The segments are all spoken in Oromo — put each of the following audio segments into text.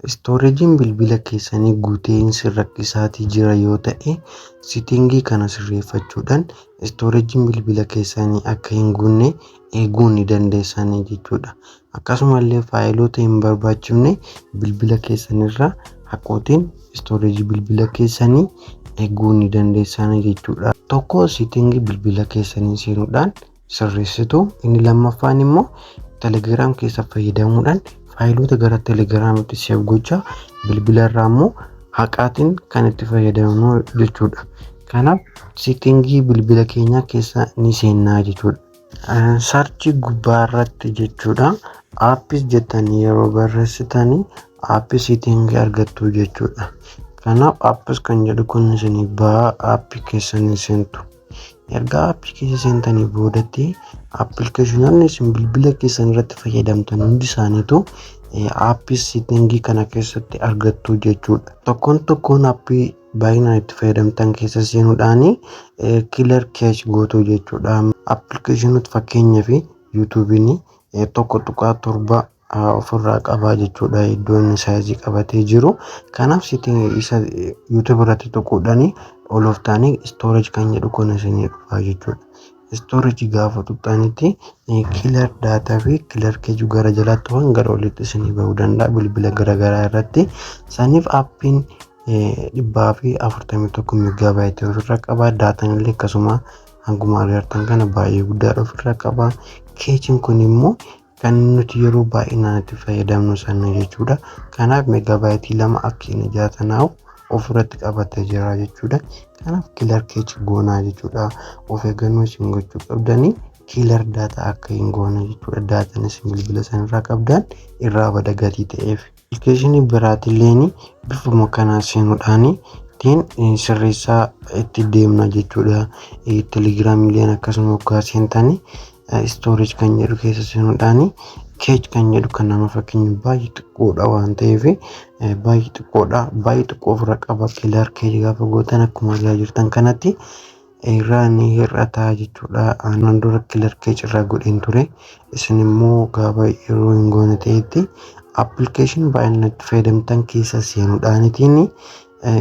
Istooreejiin bilbila keessanii guutee isin rakkisaatii jira yoo ta'e sitingii kana sirreeffachuudhaan istooreejiin bilbila keessanii akka hin guunne eeguu ni dandeessanii jechuudha. Akkasumallee faayiloota hin barbaachifne bilbila keessanirra haqootiin istooreejii bilbila keessanii eeguu ni dandeessanii jechuudha. Tokko sitingii bilbila keessanii seenuudhaan sirreessitu. Inni lammaffaan immoo Telegram keessa fayyadamuudhaan faayiloota gara Telegramitti seef gochaa bilbila irraa immoo haqaatiin kan itti fayyadamnu jechuudha. Kanaaf settingii bilbila keenyaa keessa ni seennaa jechuudha. Sarchii gubbaa irratti jechuudha. Aappis jettanii yeroo barreessitanii aappii settingii argattu jechuudha. Kanaaf aappis kan jedhu kun isinii ba'a aappii keessanii seentu. Ergaa appii keessa seentanii boodatti appilikeeshinoonni isin bilbila keessan irratti fayyadamtan hundi isaaniitu appii seetingii kana keessatti argattu jechuudha. Tokkoon tokkoon appii baay'inaan itti fayyadamtan keessa seenuudhaan kiilar keechi gootu jechuudha. Appilikeeshinoota fakkeenyaaf yuutuubiin tokko tuqaa torba ofirraa qabaa jechuudha iddoo inni saayizii qabatee jiru kanaaf sitti isa yuutuub irratti tuquudhanii oloftaanii istoorij kan jedhu kun isinii dhufaa jechuudha istooriji gaafa tuqxanitti kilar daataa fi kilar keju gara jalaatti waan gara olitti isinii bahuu danda'a bilbila garagaraa irratti saniif appiin dhibbaa fi afurtamii tokko migaabaayitii ofirra qabaa daataan illee akkasuma hanguma agartan kana baay'ee guddaadha ofirra qabaa keechiin kun immoo kan nuti yeroo baay'inaan itti fayyadamnu sana jechuudha. Kanaaf megaabaayitii lama akka inni jaatanaa'u ofirratti qabatee jira jechuudha. Kanaaf kiilar keechi goonaa jechuudha. Of eeggannoo isin gochuu qabdanii kiilar daataa akka hin goone jechuudha. Daataan isin bilbila sanarraa qabdan irraa bada gatii ta'eef. Appilikeeshinii biraatilleen bifuma kanaan seenuudhaan ittiin sirreessaa itti deemna jechuudha. Telegiraamiilleen akkasuma hoggaa seentan storage kan jedhu keessa seenuudhaan keej kan jedhu kan nama fakkeenya baay'ee xiqqoodha waan ta'eef baay'ee xiqqoodha baay'ee xiqqoo ofirra qaba kilar keej gaafa gootan akkuma argaa jirtan kanatti irraa ni hir'ata jechuudha. Aannan dura kilarkii cirraa godheen ture. Isin immoo gaafa yeroo hin goone ta'etti appilikeeshinii baay'inaan itti fayyadamtan keessa seenuudhaanitiin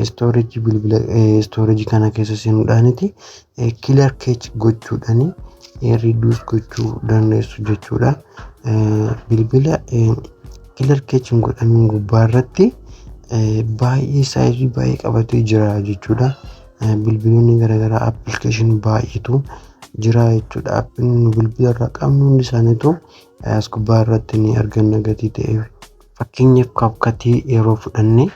istooreejii bilbila istooreejii kana keessa seenuudhaaniti kilar keech gochuudhaan riiduus gochuu dandeessu jechuudha. Bilbila kilar keech hin godhamin gubbaa irratti baay'ee saayizii baay'ee qabatee jira jechuudha. bilbiloonni garaagaraa appilikeeshinii baay'eetu jira jechuudha. Appiin nu bilbila irraa qabnu hundi isaaniitu as gubbaa irratti ni arganna gatii ta'e. Fakkeenyaaf kaapkatii yeroo fudhanne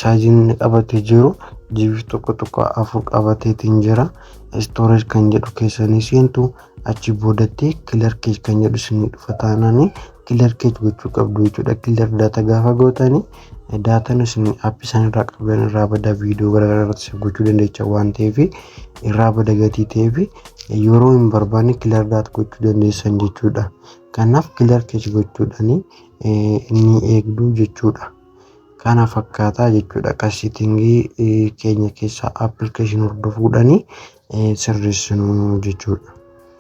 saayiziin inni qabatee jiru jiif tokko tokko afur qabateetiin jira. Istooreej kan jedhu keessanii seentu achi boodatti kilarkeej kan jedhu isinii dhufa taanaanii killer keech gochuu qabdu jechuudha killer data gaafa gootani daataan isin app isaan irraa qabdan irraa bada viidiyoo garaagaraa irratti save gochuu dandeecha waan ta'eef irraa bada gatii ta'eef yeroo hin barbaanne killer data gochuu dandeessan jechuudha kanaaf killer keech gochuudhani inni eegduu jechuudha kana fakkaataa jechuudha qasitingii keenya keessaa application hordofuudhani sirreessinu jechuudha.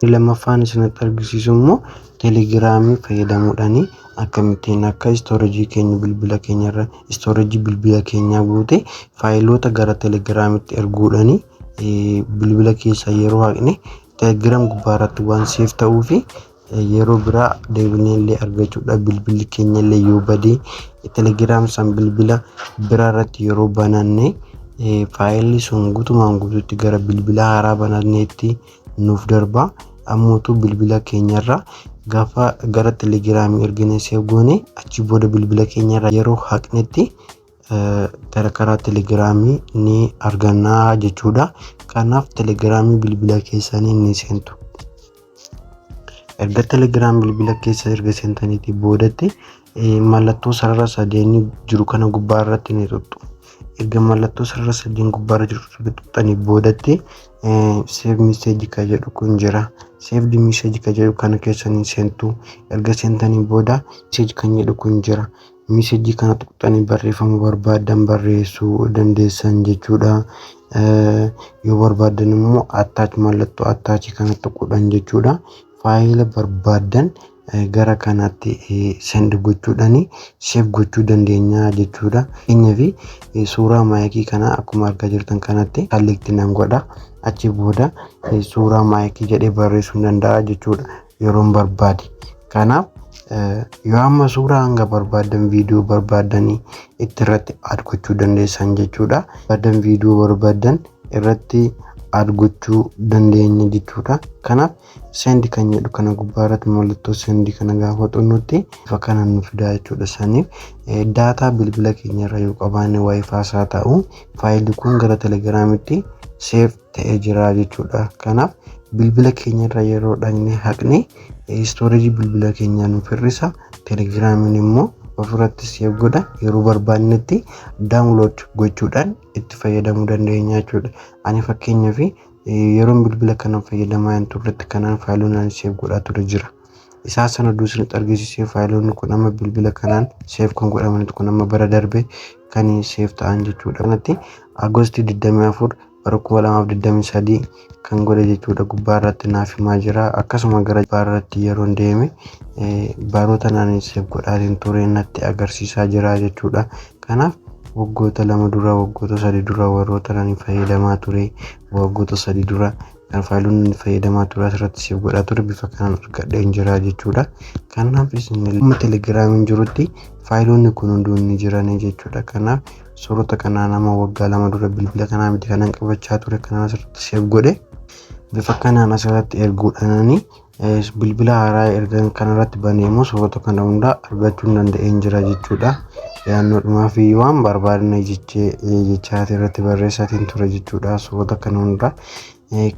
Inni lammaffaan isinitti argisiisu immoo telegiraamii fayyadamuudhaan akkamittiin akka istoorejii keenya bilbila keenya irra istoorejii bilbila keenyaa guute faayiloota gara telegiraamitti erguudhaan bilbila keessa yeroo haqne telegiram gubbaa irratti waan seef ta'uu fi Yeroo biraa deebineellee argachuudhaaf bilbilli keenyallee yoo bade telegiraam san bilbila biraa irratti yeroo bananne faayilli sun gutumaan gutuutti gara bilbila haaraa bananneetti nuuf darba. Ammuutu bilbila keenyarra gaafa gara telegiraamii ergine seef goone achi booda bilbila keenyarra yeroo haqnetti gara karaa telegiraamii ni arganna jechuudha. Kanaaf telegiraamii bilbila keessanii ni seentu. Erga telegiraam bilbila keessa erga seentaniitii boodatti mallattoo sarara sadeenii jiru kana gubbaa irratti ni tuttu. Erga mallattoo sarara sadeen gubbaa irra jiru erga tuttanii boodatti seef miseeji kan jedhu kun jira. Seef miseeji kan jedhu kana keessa ni seentu. Erga seentanii booda miseeji kan jedhu kun jira. Misejii kana tuqxanii barreeffama barbaaddan barreessuu dandeessan jechuudha. Yoo barbaaddan immoo attach mallattoo attach kana tuquudhaan jechuudha. Faayila barbaaddan gara kanaatti send gochuudhaan save gochuu dandeenya jechuudha. Fakkeenyaaf suuraa maayikii kana akkuma argaa jirtan kanatti kallikti nan godha. Achi booda suuraa maayikii jedhee barreessuu danda'a jechuudha. yeroon barbaade. Kanaaf yoo amma suuraa hanga barbaaddan viidiyoo barbaaddanii itti irratti aad gochuu dandeessan jechuudha. Barbaadan viidiyoo barbaadan irratti aad gochuu dandeenya jechuudha. Kanaaf sendi kan jedhu kana gubbaa irratti mallattoo sendi kana gaafa xunnutti bifa kana nu fidaa jechuudha. Saniif daataa bilbila keenya irra yoo qabaanne waayifaa isaa ta'u faayilii kun gara telegiraamitti seef ta'ee jira jechuudha. Kanaaf bilbila keenya irra yeroo dhaqnee haqne istoorejii bilbila keenyaa nuuf hir'isa. Telegiraamiin immoo ofirratti seef godha yeroo barbaannetti daawunlood gochuudhaan itti fayyadamuu dandeenya jechuudha. Ani fakkeenyaaf yeroon bilbila kana fayyadamaa hin turretti kanaan faayilonni ani seef godhaa ture jira. isaa sana duusinitti argisiisee faayiloonni kun amma bilbila kanaan seef kan godhamanitu kun amma bara darbe kan seef ta'an jechuudha. Kanatti Agosti 24 bara 2023 kan godhe jechuudha gubbaa irratti naaf himaa jira. Akkasuma gara gubbaa irratti yeroon deeme baroota naannoo seef godhaatiin ture natti agarsiisaa jira jechuudha. Kanaaf waggoota lama dura waggoota sadii dura warroota nani fayyadamaa ture waggoota sadii dura kan faalonni fayyadamaa ture asirratti siif godhaa ture bifa kanaan argadheen jira jechuudha. Kanaaf isinillee telegiraamiin jirutti faayiloonni kun hunduu ni jiran jechuudha. Kanaaf suurota kanaa nama waggaa lama dura bilbila kanaa miti kanan qabachaa ture kanan asirratti siif godhe bifa kanaan asirratti erguudhaanani Bilbila haaraa ergan kanarratti banee immoo suurota kana hundaa argachuun danda'een jira jechuudha. Yaannoodhumaaf iyyuu waan barbaadne jechee jechaatii irratti barreessaatiin ture jechuudha suurota kana hundaa.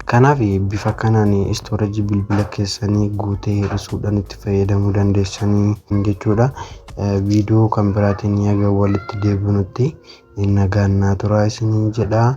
Kanaaf bifa kanaan istoorajii bilbila keessanii guutee hir'isuudhaan itti fayyadamuu dandeessanii jechuudha. Viidiyoo kan biraatiin yaga walitti deebinutti nagaan naa turaa isiniin jedha.